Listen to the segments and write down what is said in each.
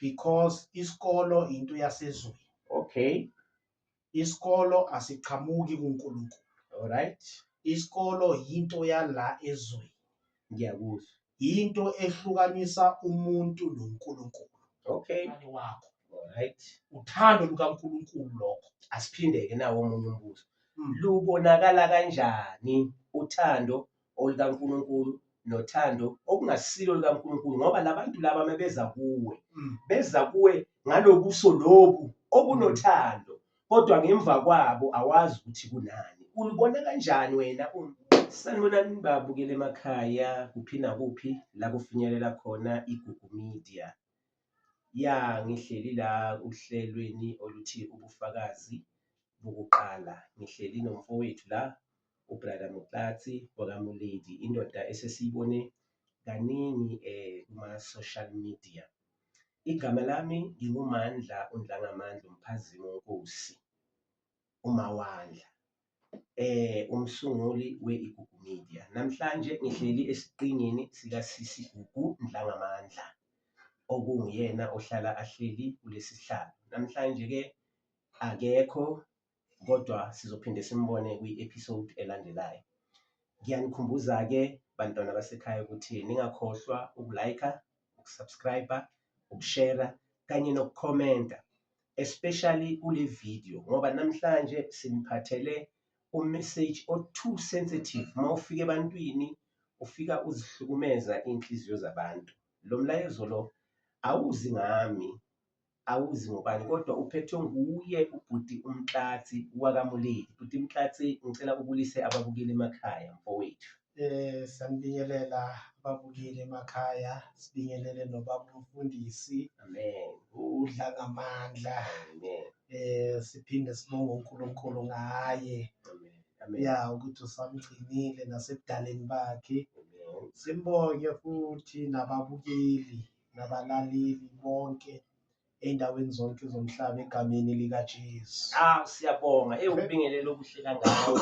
because isikolo into yasezweni okay isikolo asiqhamuki kuNkulunkulu alright isikolo yinto yala ezweni ngiyakuzwa yinto ehlukanisa umuntu noNkulunkulu okay wakho alright uthando lukaNkulunkulu lokho asiphindeke nawo omunye umbuzo hmm. lubonakala kanjani uthando olikaNkulunkulu nothando okungasilo likaNkulunkulu ngoba labantu laba mebeza kuwe mm. beza kuwe ngalobuso lobu okunothando kodwa ngemva kwabo awazi ukuthi kunani ulibona kanjani wena sanibonani babukele emakhaya kuphi nakuphi la kufinyelela khona igugu media Ya ngihleli la uhlelweni oluthi ubufakazi bokuqala ngihleli nomfowethu la ubrother Moklatsi wakamuledi indoda esesiyibone kaningi eh kuma-social media. Igama lami nginguMandla uNdlangamandla uMphazimo Nkosi. uMawandla eh umsunguli we-Igugu Media. Namhlanje ngihleli esiqingini sikaSisi Gugu Ndlangamandla okunguyena ohlala ahleli kulesi sihlalo. Namhlanje-ke akekho kodwa sizophinde simbone kwi-episode elandelayo. Ngiyanikhumbuza-ke bantwana basekhaya ukuthi ningakhohlwa ukulayikha, ukusubscribe, ukushera kanye nokukhomenta especially kule video ngoba namhlanje siniphathele umessage o too sensitive uma ufika ebantwini ufika uzihlukumeza iy'nhliziyo zabantu lo mlayezo lo awuzi ngami awuzi ngobani kodwa uphethwe nguye ubhuti umtlatsi wakamuleli bhuti mtlatsi ngicela ubulise ababukile emakhaya mfowethu Eh sanibingelela ababukeli emakhaya sibingelele nobaba umfundisi Amen. udla ngamandla Amen. eh siphinde sibonge uNkulunkulu ngaye Amen. Amen. ya ukuthi usamgcinile nasebudaleni bakhe Amen. simbonge futhi nababukeli nabalaleli bonke ey'ndaweni zonke zomhlaba egameni likaJesu. Ah siyabonga hey ukubingelela okuhle kangako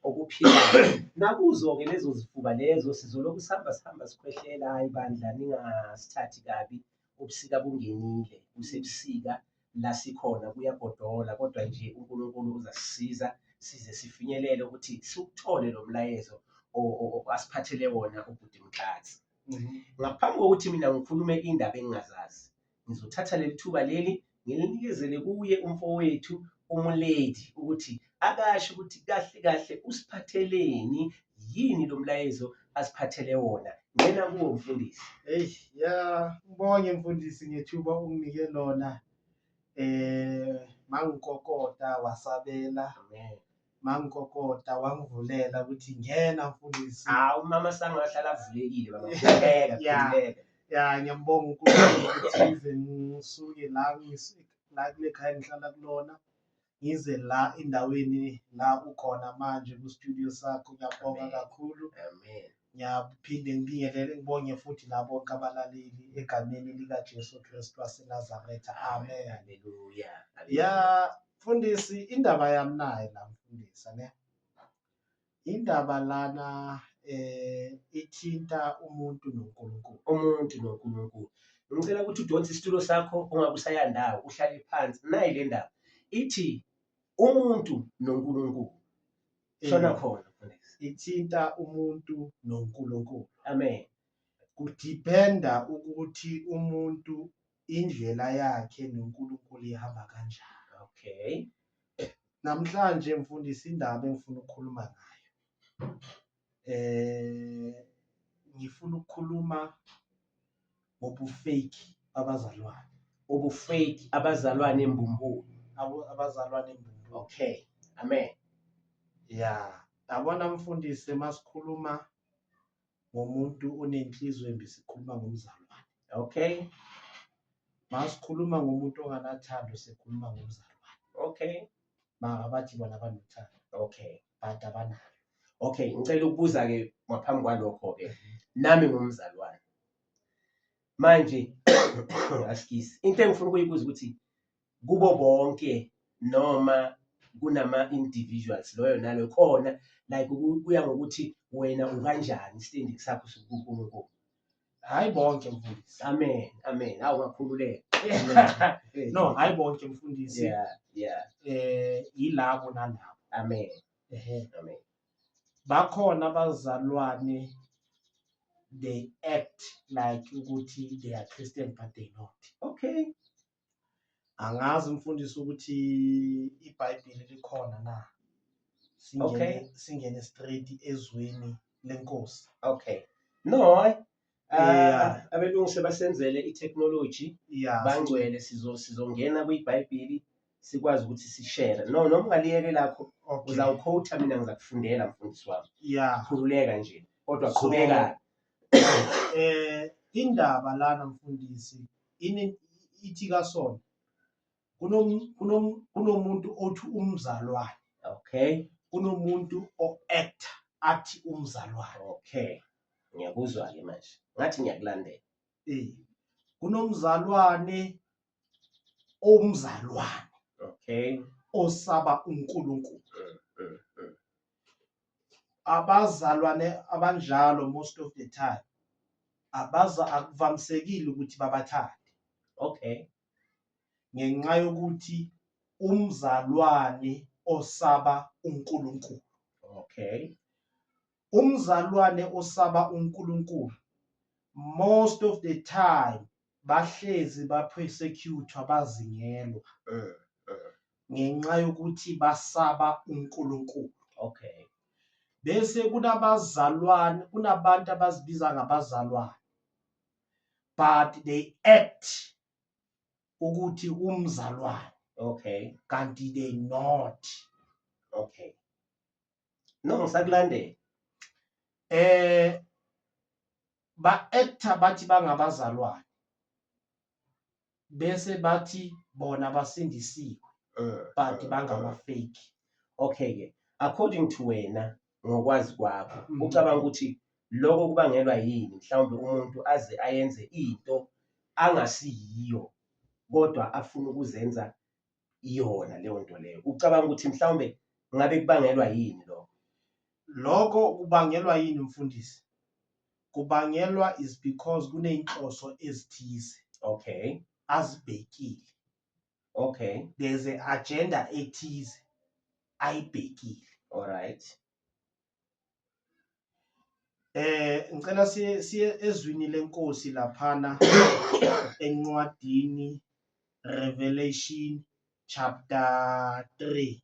okuphilayo. Nakuzo-ke lezo zifuba lezo sizolokhu sihamba sihamba sikhwehlela hayi bandla ningasithathi kabi ubusika bungenile kusebusika la sikhona kuyagodola kodwa nje uNkulunkulu uzasisiza size sifinyelele ukuthi siwuthole lo mlayezo o- o- o- asiphathele wona ubhuti Mkhatsi. Ngaphambi kokuthi mina ngikhulume indaba engingazazi ngizothatha leli thuba leli ngilinikezele kuye umfowethu umuledi ukuthi akasho ukuthi kahle kahle usiphatheleni yini lo mlayezo asiphathele wona ngena kuwo mfundisi eyi ya ngibonge mfundisi ngethuba unginike lona um mangikokota wasabela amen mangikokota wangivulela ukuthi ngena mfundisi hawu umama sanga wahlala avulekile baba khululeka Yeah. khululeka ya ngiyambonga unkulunkulu ukuthi ngize ngisuke la ngis- la kule khaya ngihlala kulona ngize la endaweni la ukhona manje kustudio sakho ngiyabonga kakhulu amen Ngiyaphinde ngibingelele ngibonge futhi labo kabalaleli egameni likaJesu Kristu waseNazaretha. Amen. Haleluya. Ya mfundisi indaba yami naye la mfundisa ne. Indaba lana eh ithinta umuntu noNkulunkulu. Umuntu noNkulunkulu. Ngicela ukuthi udonse isitulo sakho ungakusaya ndawo uhlale phansi. Nayi le ndaba ithi umuntu noNkulunkulu. shona mm. khona mfundisi ithinta umuntu noNkulunkulu amen kudependa ukuthi umuntu indlela yakhe noNkulunkulu ihamba kanjani okay namhlanje mfundisi indaba engifuna ukukhuluma ngayo eh ngifuna ukukhuluma ngobufeki babazalwane ubufeki abazalwane embumbulu abo- abazalwane embumbulu okay amen ya yabona mfundisi uma sikhuluma ngomuntu onenhliziyo embi sikhuluma ngomzalwane okay uma sikhuluma ngomuntu onganathando sikhuluma ngomzalwane okay maka bathi bona banothando okay but abanalo okay ngicela ukubuza ke ngaphambi kwalokho ke nami ngumzalwane manje askies into engifuna ukuyibuza ukuthi kubo bonke noma kunama individuals loyo nalo khona like kuya ngokuthi wena ukanjani standing sakho sokuNkulunkulu hayi bonke mfundisi amen amen awu ngakhululeka no hayi bonke mfundisi yeah yeah eh yilabo nalabo amen ehe amen bakhona abazalwane they act like ukuthi they are Christian but they not okay angazi umfundisi ukuthi iBhayibheli likhona na singene okay. singene straight ezweni lenkosi okay no Yeah. Ah, abelungu sebasenzele i-technology Yeah. bangcwele sizo sizongena kwibhayibhili sikwazi ukuthi sishere no noma ungaliyeke lakho Okay. uzawukhowutha mina ngizakufundela mfundisi wami Yeah. khululeka nje kodwa So- qhubeka Eh indaba lana mfundisi ini ithi kasona. Kunom- kunom- kunomuntu othi umzalwane okay kunomuntu o-acta athi umzalwane okay ngiyakuzwa-ke manje ngathi ngiyakulandela Eh, kunomzalwane omzalwane okay osaba unkulunkulu Mm, mm, mm. abazalwane abanjalo most of the time abaza akuvamisekile ukuthi babathande okay ngenxa yokuthi umzalwane osaba uNkulunkulu okay umzalwane osaba uNkulunkulu most of the time bahlezi bapersecutwa bazingelwa mm, mm. ngenxa yokuthi basaba uNkulunkulu okay bese kunabazalwane kunabantu abazibiza ngabazalwane but they act ukuthi umzalwane okay kanti they not okay no ngisakulandela eh ba actor bathi bangabazalwane bese bathi bona basindisiwe eh, but eh, bangama eh. fake okay ke according to wena ngokwazi kwakho mm-hmm. ucabanga ukuthi lokho kubangelwa yini mhlawumbe umuntu aze ayenze into angasiyiyo kodwa afuna ukuzenza iyona leyo nto leyo ucabanga ukuthi mhlawumbe ngabe kubangelwa yini lokho lokho kubangelwa yini mfundisi kubangelwa is because kuneyinhloso ezithize okay azibhekile okay there's a agenda ethize ayibhekile all right Eh ngicela siye siye ezwini lenkosi laphana encwadini Revelation chapter 3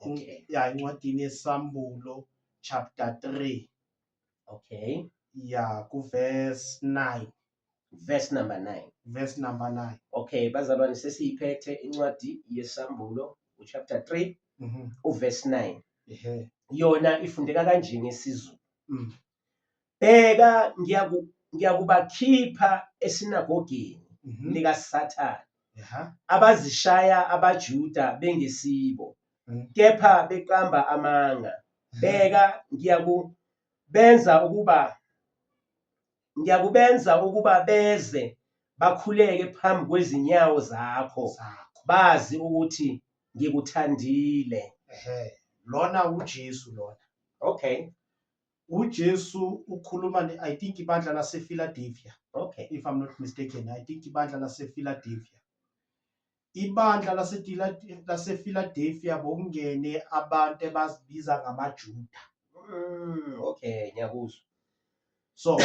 okay ya incwadini yesambulo chapter 3 okay ya ku verse 9 verse number 9 verse number 9 okay bazalwane sesiyiphethe incwadi yesambulo uchapter 3 mhm uverse 9 ehe yona ifundeka kanje ngesizulu Mm. bheka ngiyaku- ngiyakubakhipha esinagogeni mhm likasathane eha abazishaya abajuda bengesibo Mm. kepha beqamba amanga bheka ngiyakubenza ukuba ngiyakubenza ukuba beze bakhuleke phambi kwezinyawo zakho zakho bazi ukuthi ngikuthandile ehe lona uJesu lona okay uJesu ukhuluma ne I think ibandla lasePhiladelphia okay if I'm not mistaken I think ibandla lasePhiladelphia Ibandla laseFiladelfia bokungene abantu ebazibiza ngamaJuda. Mm, okay, ngiyakuzwa. So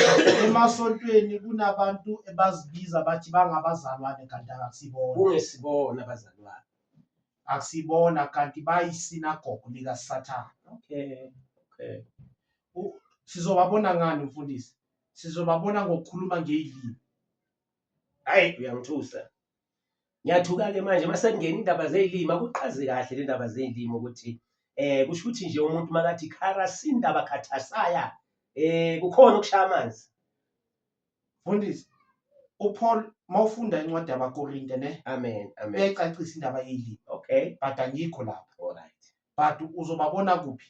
emasontweni kunabantu ebazibiza bathi bangabazalwane kanti akusibona. Kungesibona abazalwane. Akusibona kanti bayisinagogo likaSathane. Okay. Okay. Sizobabona ngani mfundisi? Sizobabona ngokukhuluma ngeilimi. Hayi uyangithusa. Ngiyathuka-ke manje uma sekungena indaba zey'limi, akuqazi kahle le ndaba zey'limi ukuthi um kusho ukuthi nje umuntu makathi khara sindaba khathasaya um kukhona ukushaya amanzi. Mfundisi, uPaul mawufunda incwadi yabaKorinte ne amen amen uyayicacisa indaba yeli okay but angikho lapha alright but uzobabona kuphi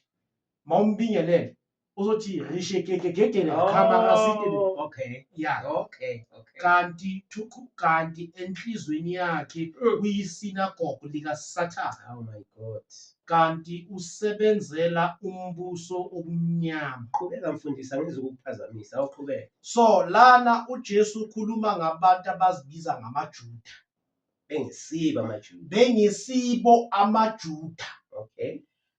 mawumbingelele uzothi rishekekegegele khamara sitini Oh, okay. ya Okay. Okay. kanti thukhu kanti enhlizweni yakhe Mm. uyisinagogo likasathane Oh my God. kanti usebenzela umbuso obumnyama Qhubeka mfundisi angizwe ukukuphazamisa. Awuqhubeke. so lana ujesu ukhuluma ngabantu abazibiza ngamajuda Bengisiba amaJuda. bengisibo amajuda Okay.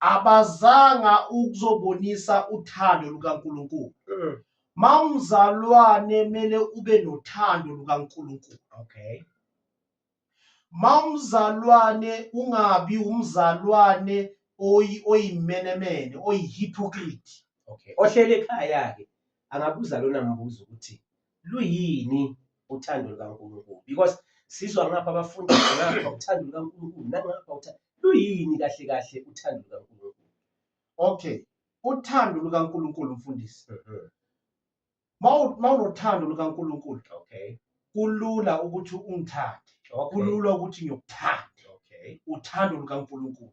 abazanga ukuzobonisa uthando lukaNkulunkulu mm. mawumzalwane mele ube nothando lukaNkulunkulu okay mawumzalwane ungabi umzalwane oyi oyimenemene oyihypocrite okay ohlele ekhaya ke angabuza lona mbuzo ukuthi luyini uthando lukaNkulunkulu because sizwa ngapha abafundi ngapha uthando lukaNkulunkulu nangapha uthando luyini kahle kahle uthando lukaNkulunkulu okay uthando lukaNkulunkulu mfundisi mhm. mawunothando lukaNkulunkulu okay kulula ukuthi ungithande kulula ukuthi ngiyokuthanda okay uthando lukaNkulunkulu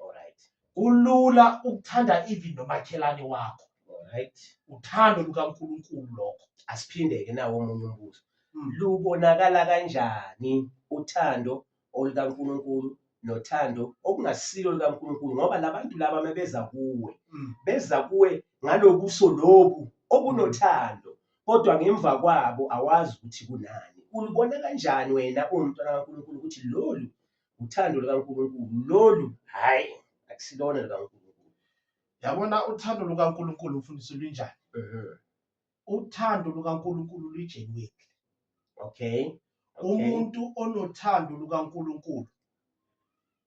Alright. Kulula ukuthanda even nomakhelane wakho. Alright. Uthando lukaNkulunkulu lokho. Asiphinde-ke nawo omunye umbuzo. Mm. Lubonakala kanjani uthando olukaNkulunkulu nothando okungasilo lukaNkulunkulu ngoba labantu laba mebeza kuwe mm. beza kuwe ngalobuso lobu obunothando kodwa ngemva kwabo awazi ukuthi kunani ulibona kanjani wena uwumntwana kaNkulunkulu ukuthi lolu uthando lukaNkulunkulu lolu hhayi akusilona lukaNkulunkulu yabona uthando lukaNkulunkulu mfundisi lunjani mhm. uthando lukaNkulunkulu lujenweki okay umuntu onothando lukaNkulunkulu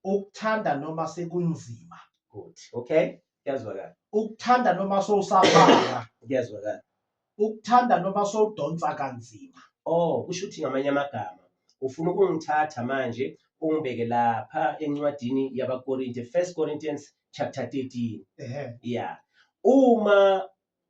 ukuthanda noma sekunzima good okay kuyazwakala ukuthanda noma sowusabanga kuyazwakala ukuthanda noma sowudonsa kanzima oh kusho ukuthi ngamanye amagama ufuna ukungithatha manje ungibeke lapha encwadini yabakorinte first corinthians chapter 13 ehe ya uma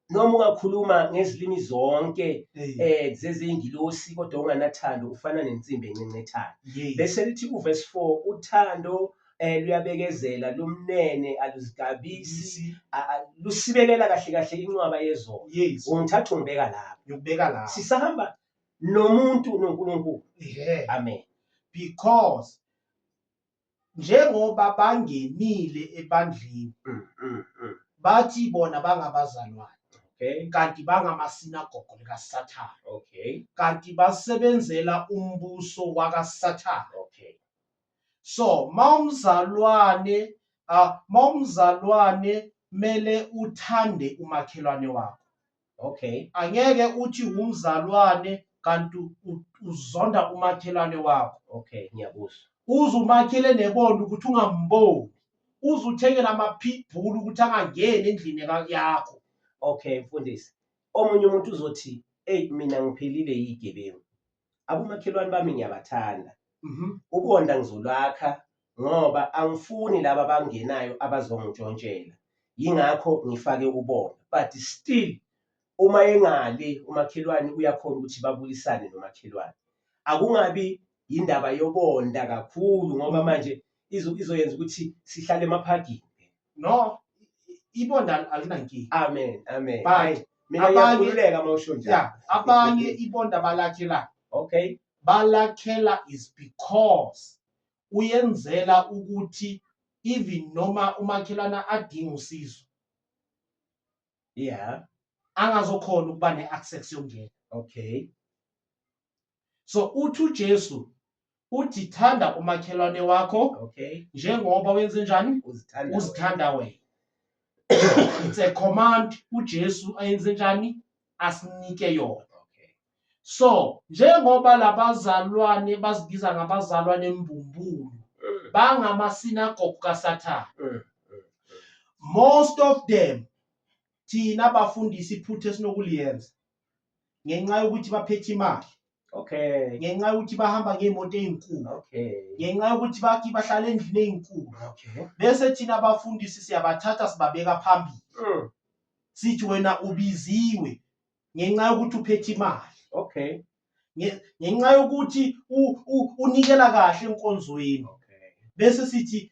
noma ungakhuluma ngezilimi zonke hey eh zezingilosi kodwa unganathando ufana nensimbi encencethayo yey bese lithi kuvesi 4 uthando eh luyabekezela lumnene aluzigabisi a- a- lusibekela kahle kahle inqwaba yezona yes ungithatha ungibeka lapho ngikubeka la sisahamba nomuntu noNkulunkulu yeah amen because njengoba bangenile ebandleni Mm, mm, mm. bathi bona bangabazalwane okay kanti bangamasinagogo likasathane okay kanti basebenzela umbuso wakasathane okay so mawumzalwane uh, mawumzalwane mele uthande umakhelwane wakho okay angeke uthi umzalwane kanti uzonda umakhelwane wakho okay ngiyakuzwa uze umakhele nebona ukuthi ungamboni uze uthengela ama-pitbull ukuthi angangeni endlini yakho okay mfundisi omunye umuntu uzothi eyi mina ngiphelile yigebengu abomakhelwane bami ngiyabathanda Mhm. ukonda ngizolwakha ngoba angifuni laba abangenayo abazongitshontshela yingakho ngifake ubona but still uma engale umakhelwane uyakhona ukuthi babulisane nomakhelwane akungabi yindaba yobonda kakhulu ngoba Mhm. manje izo- izoyenza ukuthi sihlale emaphagini no ibonda alinankinga amen amen bye mina ngiyakhululeka uma usho njalo yeah abanye ibonda balakhela okay balakhela is because uyenzela ukuthi even noma umakhelana adinga usizo yeah angazokhona ukuba ne-access yokungena okay so uthi uJesu uthi thanda umakhelwane wakho okay njengoba wenze njani uzithanda uzithanda wena it's a command uJesu ayenze njani asinike yona okay so njengoba labazalwane bazibiza ngabazalwane embumbulu mm. bangamasinagogu kaSathane mm, mm, mm. most of them thina bafundisi iphutha esinokuliyenza ngenxa yokuthi baphethe imali okay ngenxa yokuthi bahamba ngey'moto ey'nkulu okay ngenxa yokuthi bathi bahlala endlini ey'nkulu okay bese thina abafundisi siyabathatha sibabeka phambili mm. sithi wena ubiziwe ngenxa yokuthi uphethe imali okay ngenxa yokuthi unikela kahle enkonzweni bese sithi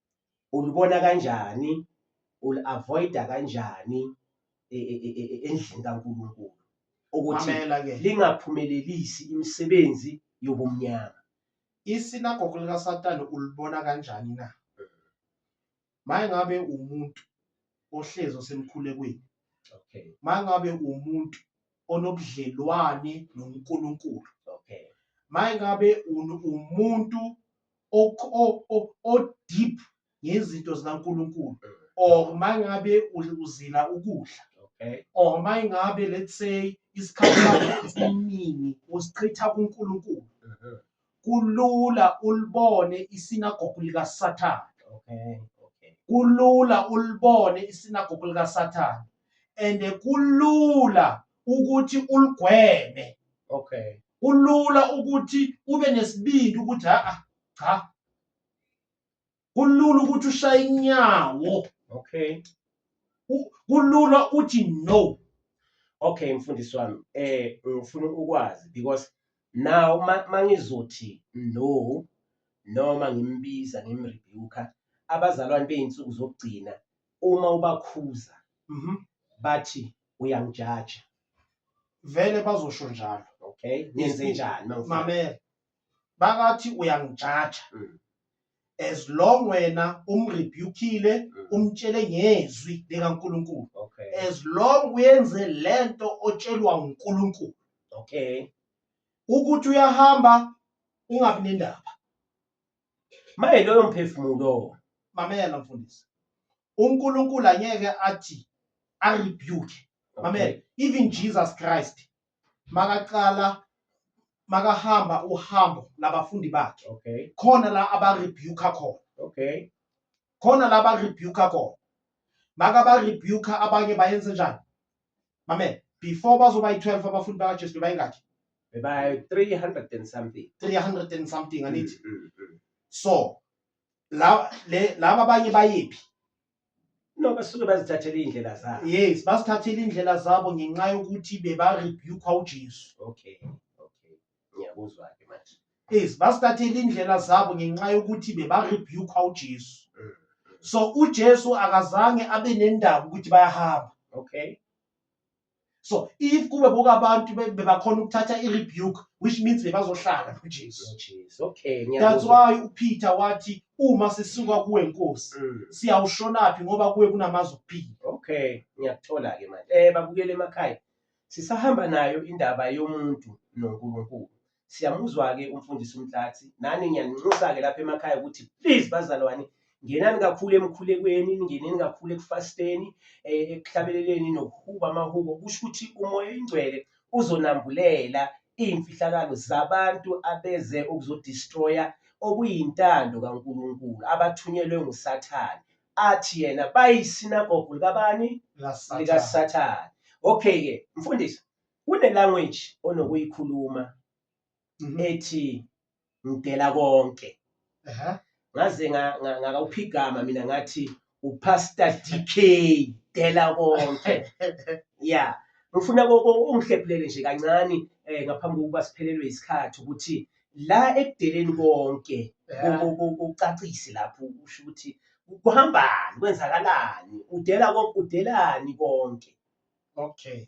ulibona kanjani uli-avoida kanjani e, e, e, endlini kaNkulunkulu ukuthi lingaphumelelisi imisebenzi yobumnyama isinagogo likasatane ulibona kanjani na maye ngabe umuntu ohlezi osemkhulekweni okay maye ngabe umuntu onobudlelwane noNkulunkulu okay maye ngabe umuntu o-deep ngezinto zikaNkulunkulu or uma ngabe uzila ukudla okay or uma ngabe let's say isikhathi sakho esiningi usichitha kuNkulunkulu uh-huh. kulula ulibone isinagogu likaSathane okay okay kulula ulibone isinagogu likaSathane and kulula ukuthi uligweme okay kulula ukuthi ube nesibindi ukuthi a cha kulula ukuthi ushaye inyawo okay kulula uthi no okay mfundisi wami eh ngifuna ukwazi because now mangizothi no noma ngimbiza ngimrebuka abazalwane beyinsuku zokugcina uma ubakhuza mhm. bathi uyangijaja vele bazosho njalo okay ngenze njani mangifuna mamela bakathi uyangijaja Mm. as long wena umrebukile Mm. umtshele ngezwi likaNkulunkulu okay as long uyenze lento otshelwa uNkulunkulu okay ukuthi uyahamba ungabi nendaba maye loyo mphefumulo mamela mfundisi uNkulunkulu angeke athi a rebuke mamela even Jesus Christ makaqala makahamba uhambo labafundi bakhe okay khona la aba rebuke khona okay khona la ba rebuke khona maka ba rebuke abanye bayenze njani mamela before bazoba yi-12 abafundi bakaJesu bebayingakhi bebayi-300 and something 300 and something angithi mm, mm, mm. so laba le- laba abanye bayephi no basuke bazithathela iy'ndlela zabo yes basithathela indlela zabo ngenxa yokuthi bebarebukwa ujesu okay okay ngiyakuzwa-ke manje yes basithathela indlela zabo ngenxa yokuthi bebarebukwa ujesu Mm. so ujesu akazange abe nendaba ukuthi bayahamba okay so if kube bonke abantu be- bebakhona ukuthatha i-rebuke which means bebazohlala kujesu Oh, Jesus. Okay, that's ngiyakuzwa. why upeter wathi uma sisuka kuwe nkosi Mm. siyawushonaphi ngoba kuwe kunamazwi okuphila Okay, ngiyakuthola ke manje. Eh babukele emakhaya. Sisahamba nayo indaba yomuntu noNkulunkulu. Siyamuzwa-ke umfundisi uMtlatsi. Nani ngiyaninxusa-ke lapha emakhaya ukuthi please bazalwane ngenani kakhulu emkhulekweni ningeneni kakhulu ekufasteni eh, ekuhlabeleleni nokuhuba amahubo kusho ukuthi umoya ingcwele uzonambulela iy'mfihlakalo zabantu abeze ukuzodistroya okuyintando kaNkulunkulu abathunyelwe nguSathane athi yena bayisinagogu likabani likaSathane okay-ke mfundisi Kune language onokuyikhuluma Mhm. ethi ngidela konke. Ehhe. Ngaze nga- nga- ngakawuphigama mina ngathi uPastor DK dela konke. Ya. Ngifuna ko- ko- ungihlephulele nje kancane eh ngaphambi kokuba siphelelwe isikhathi ukuthi la ekudeleni konke Ehhe. ku- ku- ku- kucacise lapho usho ukuthi kuhambani kwenzakalani udela konke udelani konke. Okay.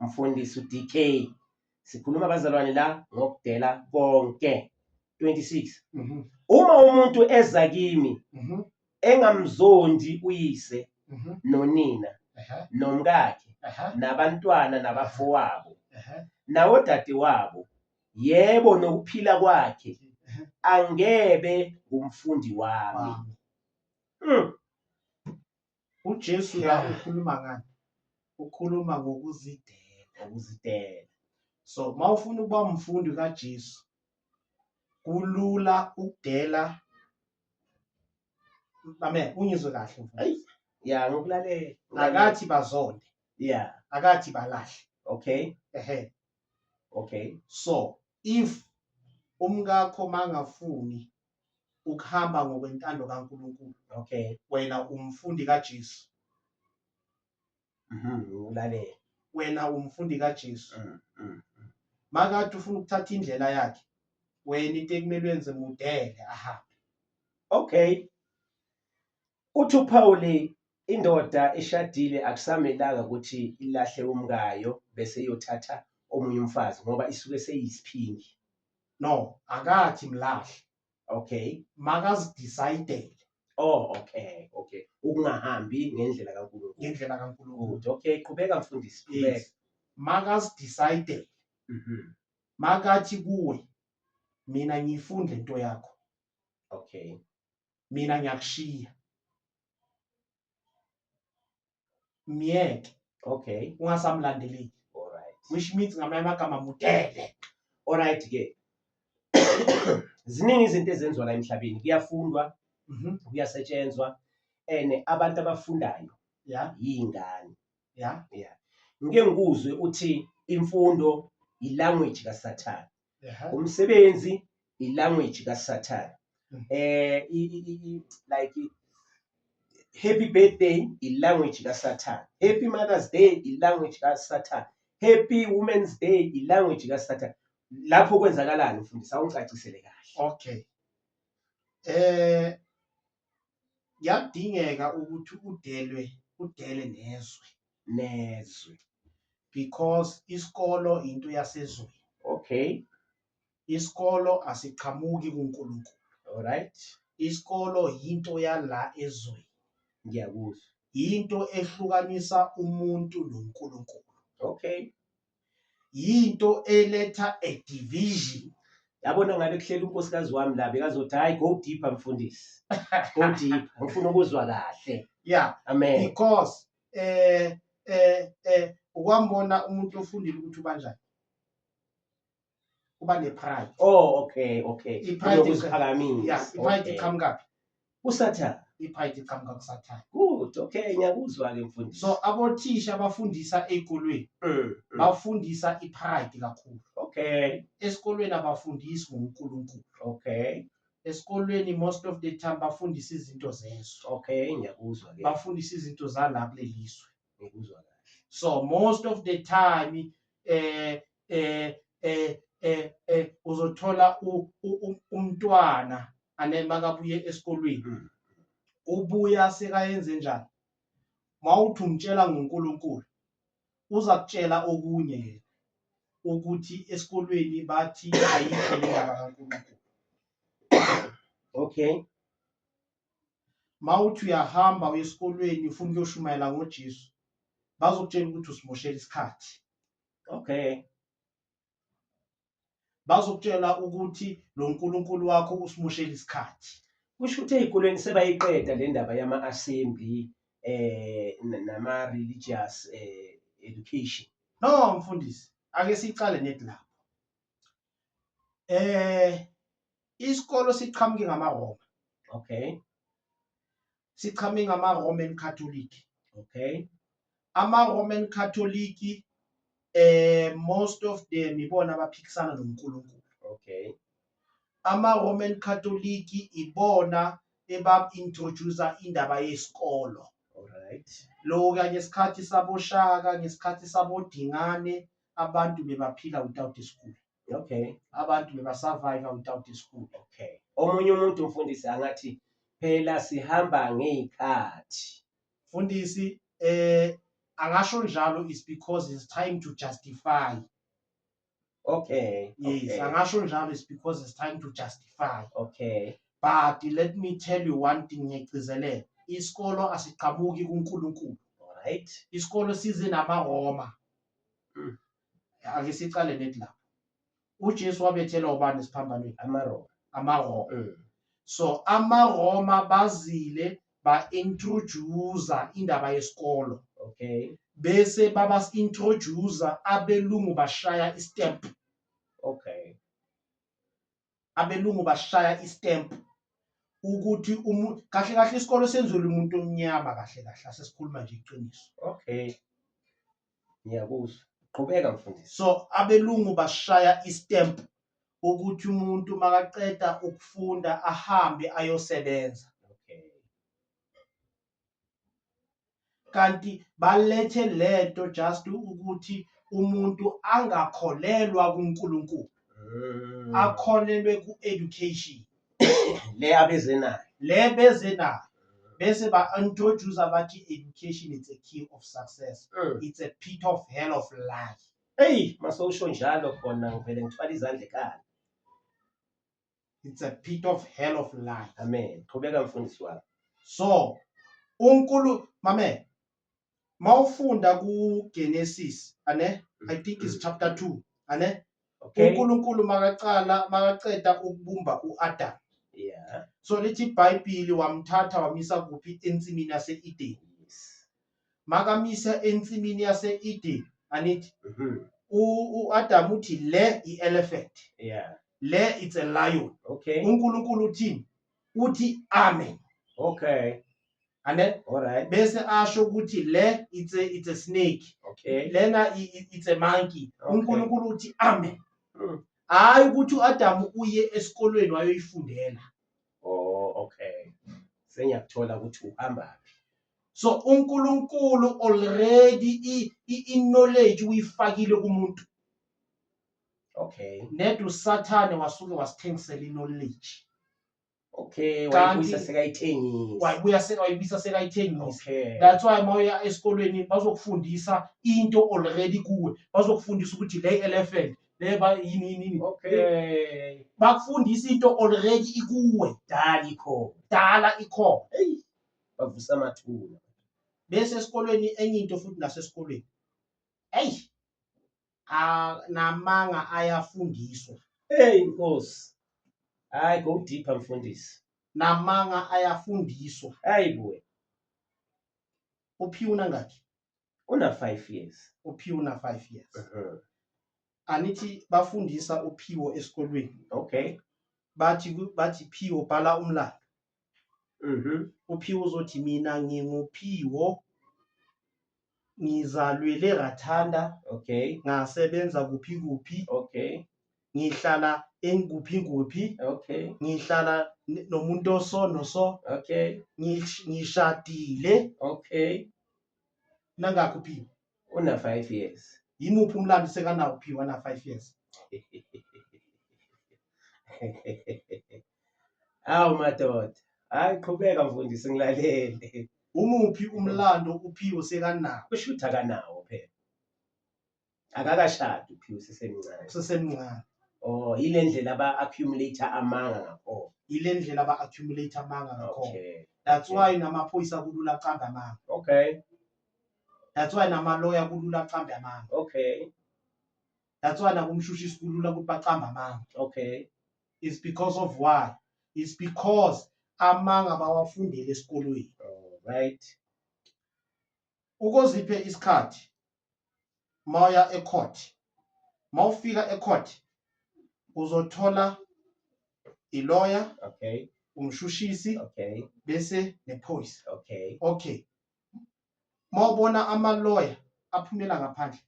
Mfundisi uDK sikhuluma abazalwane la ngokudela konke 26 mhm. uma umuntu eza kimi mhm. engamzondi uyise mhm. nonina nomkakhe nabantwana nabafowabo nawodade wabo yebo nokuphila kwakhe angebe ngumfundi wami hmm. uJesu la Yeah. ukhuluma ngani ukhuluma ngokuzidela ngokuzidela so uma ufuna ukuba umfundi kaJesu kulula ukudela amen ungizwe kahle mfundisi. Ayi. ya ngokulalela akathi bazonde ya akathi balahle okay ehe okay so if umkakho mangafuni ukuhamba ngokwentando kaNkulunkulu okay wena umfundi kaJesu mhm ulalela wena umfundi kaJesu mm, mm, mm. makade ufuna ukuthatha indlela yakhe wena into ekumele wenze mudele ahambe okay Uthi uPauli indoda eshadile akusamelanga ukuthi ilahle umkayo bese iyothatha omunye umfazi ngoba isuke seyisiphingi. No, akathi mlahle. Okay. Makazidecide Oh, okay, okay. Ukungahambi ngendlela kaNkulunkulu. ngendlela kaNkulunkulu. Good. Okay, qhubeka mfundisi, qhubeka. Yes. Makazidecide Mhm. makathi kuwe mina ngiyifuni lento yakho. Okay. mina ngiyakushiya myeke okay ungasamlandeleki alright which means ngamanye amagama mudele alright ke ziningi izinto ezenziwa la emhlabeni kuyafundwa mhm. kuyasetshenzwa and abantu abafundayo ya yingane ya ya ngike ngikuzwe uthi imfundo yilanguage kasathane umsebenzi ilanguage kasathane hmm. eh like happy birthday ilanguage kasathane happy mothers day ilanguage kasathane happy women's day ilanguage kasathane lapho kwenzakalani mfundisi awungicacisele kahle okay eh yakudingeka ukuthi udelwe udele nezwe nezwe because isikolo into yasezweni okay isikolo asiqhamuki kuNkulunkulu alright isikolo yinto yala ezweni ngiyakuzwa yinto ehlukanisa umuntu noNkulunkulu okay yinto eletha a division yabona ngabe kuhlela unkosikazi wami la bekazothi hayi go deeper mfundisi go deep ngifuna ukuzwa kahle yeah amen because eh eh eh ukwambona umuntu ofundile ukuthi ubanjani kuba nepride oh okay okay ipride yokuziphakamisa yes ipride iqhamuka phi kusathana ipride iqhamuka kusathana good okay ngiyakuzwa ke mfundisi so abothisha abafundisa ezikolweni mm, mm. bafundisa ipride kakhulu okay esikolweni abafundisi ngoNkulunkulu okay esikolweni most of the time bafundisa izinto zeso okay ngiyakuzwa ke bafundisa izinto zalapha lelizwe ngikuzwa kahle so most of the time eh eh eh eh, eh uzothola umntwana anema kabuye esikolweni hmm. ubuya sekayenze njani mawuthi umtshela ngoNkulunkulu uza kutshela okunye yena ukuthi esikolweni bathi ayikho indaba kaNkulunkulu okay mawuthi uyahamba uye esikolweni ufuna ukuyoshumayela ngoJesu bazokutshela ukuthi usimoshela isikhathi okay bazokutshela ukuthi lo nkulunkulu wakho usimushela isikhathi kusho ukuthi ezikolweni sebayiqeda le ndaba yama-assembly eh nama-religious eh, education no mfundisi ake sicale nedi lapho eh isikolo siqhamuke ngamaroma okay sichame ngama-roman catholic okay ama-roman catholic eh most of them ibona abaphikisana nonkulunkulu okay ama-roman catholic ibona ebab-introducer indaba yesikolo Alright. Lo kanye isikhathi saboshaka ngesikhathi sabodingane abantu bebaphila without school. okay abantu bebasurvive without school okay omunye umuntu mfundisi angathi phela sihamba ngey'khathi mfundisi eh akasho njalo is because it's time to justify okay yes okay. angasho njalo is because it's time to justify okay but let me tell you one thing ngiyagcizelela isikolo asiqhamuki kuNkulunkulu right isikolo size namaRoma mm. ake siqale nethi lapho uJesu wabethelwa ubani esiphambanweni amaRoma amaRoma mm. so amaRoma bazile ba introduce indaba yesikolo okay bese baba introduce abelungu bashaya istep okay abelungu bashaya istamp ukuthi umuntu kahle kahle isikole senzelwe umuntu omnyama kahle kahle asesikhuluma nje iqiniso okay ngiyakuzwa qhubeka mfundisi so abelungu bashaya istamp ukuthi umuntu makaqeda ukufunda ahambe ayosebenza okay kanti balethe lento just ukuthi umuntu angakholelwa kuNkulunkulu mm. akholelwe ku-education le abeze nayo le beze nayo bese ba-introduce abathi education it's a key of success mm. it's a pit of hell of life eyi masowusho njalo khona ngivele ngithwala izandla ekhala it's a pit of hell of life amen qhubeka mfundisi wami so unkulu mame mawufunda ku Genesis ane i think is chapter 2 ane okay uNkulunkulu makaqala makaqeda ukubumba uAdam yeah so lithi iBhayibheli wamthatha wamisa kuphi ensimini yaseEden yes makamisa ensimini yase-Eden anithi Mhm. u- u-Adam uthi le i-elephant Yeah. le it's a lion Okay. uNkulunkulu uthini uthi amen Okay. ane All right. bese asho ukuthi le it's a, it's a snake Okay. lena i- i- it's a monkey Okay. uNkulunkulu uthi amen Mm. hayi ukuthi uAdam uye esikolweni wayoyifundela Oh, okay. Sengiyakuthola ukuthi uhamba phi. so uNkulunkulu already i-knowledge uyifakile kumuntu okay ned usathane wasuke wasithengisela i-knowledge okay wayibuyisa sekayithengisa wayibuya sekayibisa sekayithengisa okay that's why mawuya esikolweni bazokufundisa into already kuwe bazokufundisa ukuthi le elephant leba yini yini yini okay bakufundisa into already ikuwe dala ikho dala ikho hey bavusa amathuna bese esikolweni enye into futhi nasesikolweni eyi namanga ayafundiswa hey nkosi hayi go deeper mfundisi namanga ayafundiswa hayi buwe uphiwuna ngakhi una 5 years uphiwuna 5 years uh -huh. anithi bafundisa uphiwo esikolweni okay bathi bathi phiwo bhala umlando Mhm. uphiwo uzothi mina nginguphiwo ngizalwele rathanda Okay. ngasebenza kuphi kuphi Okay. ngihlala engikuphi kuphi Okay. ngihlala n- nomuntu oso noso Okay. ngish- ngishadile Okay. nangakho uphiwo Una 5 years. yimuphi umlando sekanawo uphiwo ana-five years Awu madoda. Hayi qhubeka mfundisi ngilalele. Umuphi umlando uPhiwo sekanawo? Kusho ukuthi akanawo phela. Akakashadi uPhiwo sisemncane. Usesemncane. Oh, ile ndlela aba accumulate amanga ngakho. Ile ndlela aba accumulate amanga ngakho. Okay. That's why namaphoyisa kulula qamba amanga. Okay. That's why namaloya kulula qamba amanga. Okay. That's why nakumshushisi kulula ukuthi baqamba amanga. Okay. is because of why is because amanga bawafundele esikolweni right ukoziphe isikhathi mawuya ecourt mawufika ecourt uzothola iloya okay umshushisi okay bese nephoyisa okay okay mawubona ama lawyer aphumela ngaphandle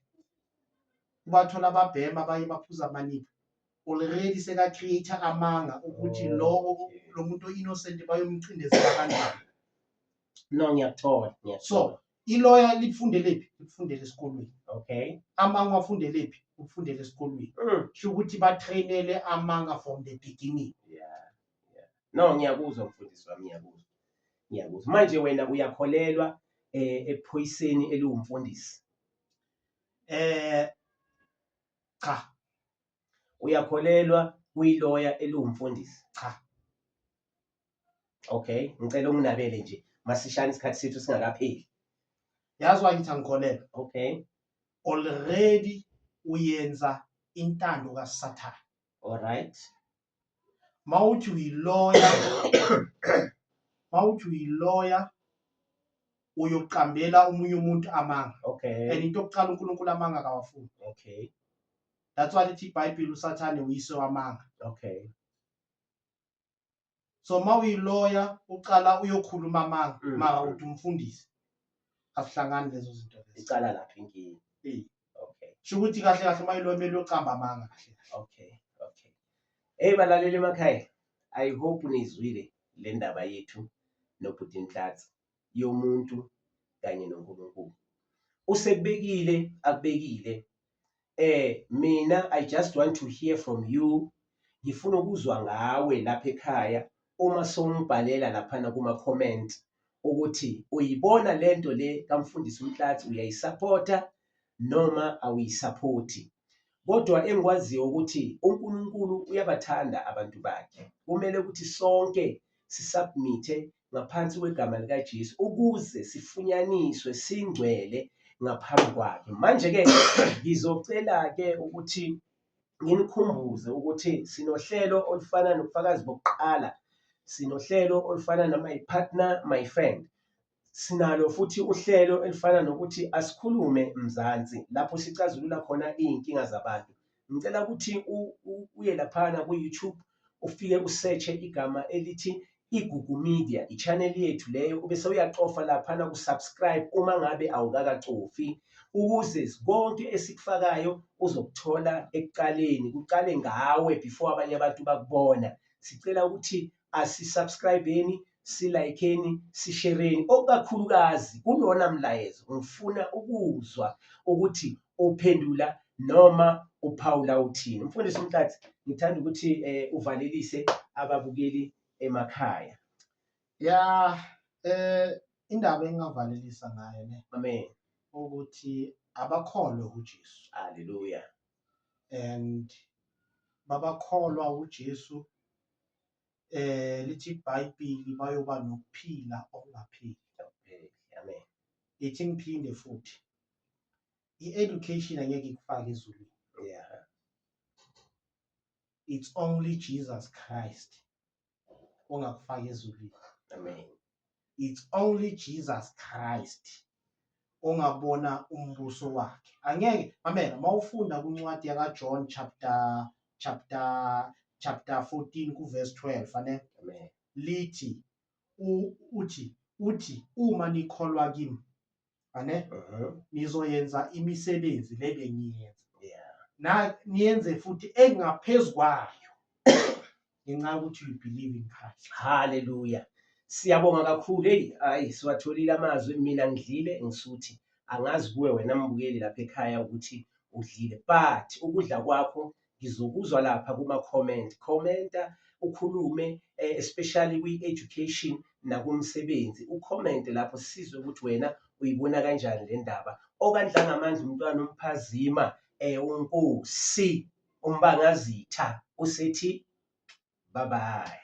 ubathola ababhema abanye baphuza amanika already seka create amanga ukuthi oh, lowo lo muntu innocent bayomcindezela kanjani no ngiyakuthola so iloya lifundelephi likufundela esikolweni okay amanga wafundelephi ukufundela esikolweni mm. sho ukuthi batrainele amanga from the beginning yeah yeah no ngiyakuzwa mfundisi wami ngiyakuzwa Ngiyakuzwa. Manje wena uyakholelwa eh ephoyiseni eliwumfundisi. Eh cha. Uyakholelwa kuyiloya eliwumfundisi. Cha. Okay, ngicela unginabele nje masishane isikhathi sethu singakapheli. Yazi why ngithi angikholelwa? Okay. Already uyenza intando kaSathane. All right. mawuthi uyiloya mawuthi uyiloya uyoqambela omunye umuntu amanga okay and into yokuqala uNkulunkulu amanga kawafuni okay that's why lithi iBhayibheli uSathane uyise wamanga okay so mawuyiloya uqala uyokhuluma amanga mm. mara uthi umfundisi asihlangani lezo zinto lezo icala lapho inkinga Eh. okay sho ukuthi kahle kahle uma ilomele uyocamba amanga kahle kahle okay okay hey balaleli emakhaya i hope nizwile le ndaba yethu nobhuti Nhlanhla yomuntu kanye noNkulunkulu usekubekile akubekile eh mina i just want to hear from you ngifuna ukuzwa ngawe lapha ekhaya uma songibhalela laphana kuma comment ukuthi uyibona lento le kamfundisi uMhlathi uyayisupporta noma awuyisupporti kodwa engikwaziyo ukuthi uNkulunkulu uyabathanda abantu bakhe kumele ukuthi sonke sisubmithe ngaphansi kwegama likaJesu ukuze sifunyaniswe singcwele ngaphambi kwakhe. Manje-ke ngizocela-ke ukuthi nginikhumbuze ukuthi sinohlelo olufana nobufakazi bokuqala, sinohlelo olufana no-My Partner, My Friend. Sinalo futhi uhlelo elifana nokuthi asikhulume Mzansi lapho sicazulula khona iy'nkinga zabantu. ngicela ukuthi uye laphana ku-youtube ufike usetshe igama elithi igugu media i-channel yethu leyo ube sewuyacofa laphana kusubscribe uma ngabe awukakacofi ukuze konke esikufakayo uzokuthola ekuqaleni kuqale ngawe before abanye abantu bakubona sicela ukuthi asisubscribeni silayikeni sishereni okukakhulukazi kulona mlayezo ngifuna ukuzwa ukuthi uphendula noma uphawula uthini umfundisi umthathe ngithanda ukuthi eh, uvalelise ababukeli emakhaya ya eh indaba engingavalelisa ngayo ne amen ukuthi abakholwe uJesu haleluya and babakholwa uJesu eh lithi iBhayibheli bayoba nokuphila okungapheli amen ithi ngiphinde futhi i-education angeke ikufake ezulwini yeah it's only Jesus Christ ongakufaka ezulwini amen it's only Jesus Christ ongabona umbuso wakhe angeke mamela mawufunda kuncwadi yaka John chapter chapter chapter 14 ku verse 12 fane lithi uthi uthi uma nikholwa kimi ane Mhm. nizoyenza imisebenzi le bengiyenza Yeah. na niyenze futhi engaphezu kwayo ngenxa yokuthi you believe in Christ Hallelujah. Siyabonga kakhulu. Hey, hayi siwatholile amazwi mina ngidlile ngisuthi angazi kuwe wena mbukeli lapha ekhaya ukuthi udlile. But ukudla kwakho ngizokuzwa lapha kuma comment commenta ukhulume eh, especially kwi education nakumsebenzi ucomment lapho sisizwe ukuthi wena uyibona kanjani le ndaba okandlanga amandla umntwana umphazima eh unkosi umbangazitha usethi bye bye